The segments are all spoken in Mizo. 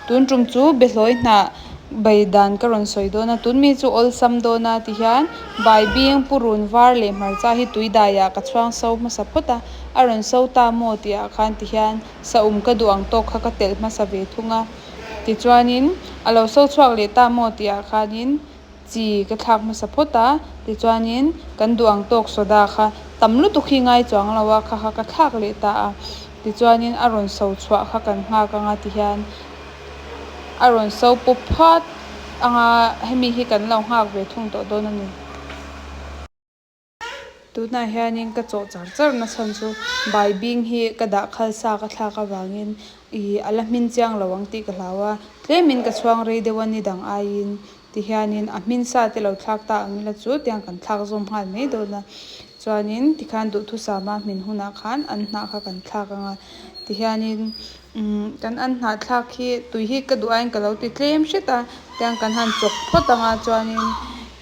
Tun ṭum chu behlawi hnah bai dan ka rawn sawi dawn a, tun mi chu awlsam dawn a ti hian Baibing purun var leh hmarcha hi tui daiah ka chhuang so hmasa phawt a, a rawn so ta maw tih ah khan ti hian sa um ka duh ang tawk kha ka telh hmasa ve thung a, tichuanin a lo so chhuak leh ta maw tih ah khanin chi ka thlak hmasa phawt a, tichuanin kan duh ang tawk sawda kha tam lutuk hi ngai chuang lo a, kha kha ka thlak leh ta a, tichuanin a rawn so chhuah kha kan nghak anga tihian a rawn so pup phat anga hemi hi kan lo nghak ve thung tawh dawn a ni. Tunah hianin ka chawh char char nasan chu bai bing hi ka dah khalsa ka thlak avangin i a la hmin chiang lo ang tih ka hlau a, tlemin ka chhuang rei deuh a ni dang aiin ti hianin a hmin sa te lo thlak ta ang ila chu tiang kan thlak zawm nghal mai dawn a. Chuanin tikhan duhthusama hmin hunah khan an hnah kha kan thlak ang a ti hianin Kan an hnahthlak hi tui hi ka duh aiin ka lo ti tlem hret a, tiang kan han chawk phawt ang a chuanin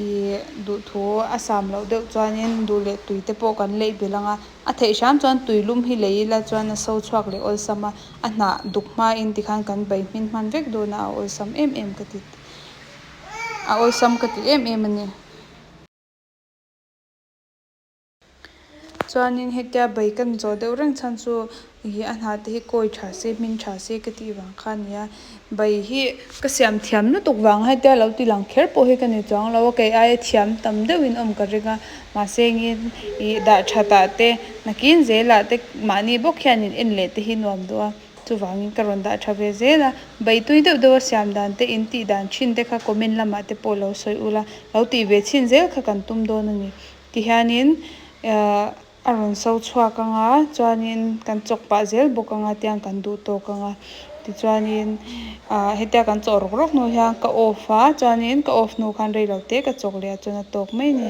ih duhthu a sam loh deuh chuanin duh leh tui te pawh kan laih belh ang a, a theih hram chuan tui lum hi lei ila chuan a so chhuak leh awlsam a, a hnah duk hmain tikhan kan bai hmin hman vek dawn a, a awlsam em em ka ti a awlsam ka ti em em a ni. Chuanin hetia bai kan zawh deuh reng chhan chu ih a hna te hi kawi tha se hmin tha se ka tih vang kha nia. Bai hi ka siam thiam lutuk vang a hetia lo ti lang kher pawh hi ka ni chuang lo a, kei aia thiam tam deuh in awm ka ring a, mahse engin ih dah tha ta te nakin zel ah te mahni bawk hian in en leh te hi nuam duh a, chuvangin ka rawn dah tha ve zel a, bai tui deuh deuh a siam dan te in tih dan thin te kha comment lamah te pawh lo sawi ula lo tih ve chhin zel kha kan tum dawn a ni. Ti hianin a rawn so chhuak anga chuanin kan chawk pah zel bawk anga tiang kan duh tawk anga tichuanin hetia kan chawk rawk rawk hnu hian ka off a chuanin ka off hnu khan reilote ka chawk leh a chawna tawk mai a ni.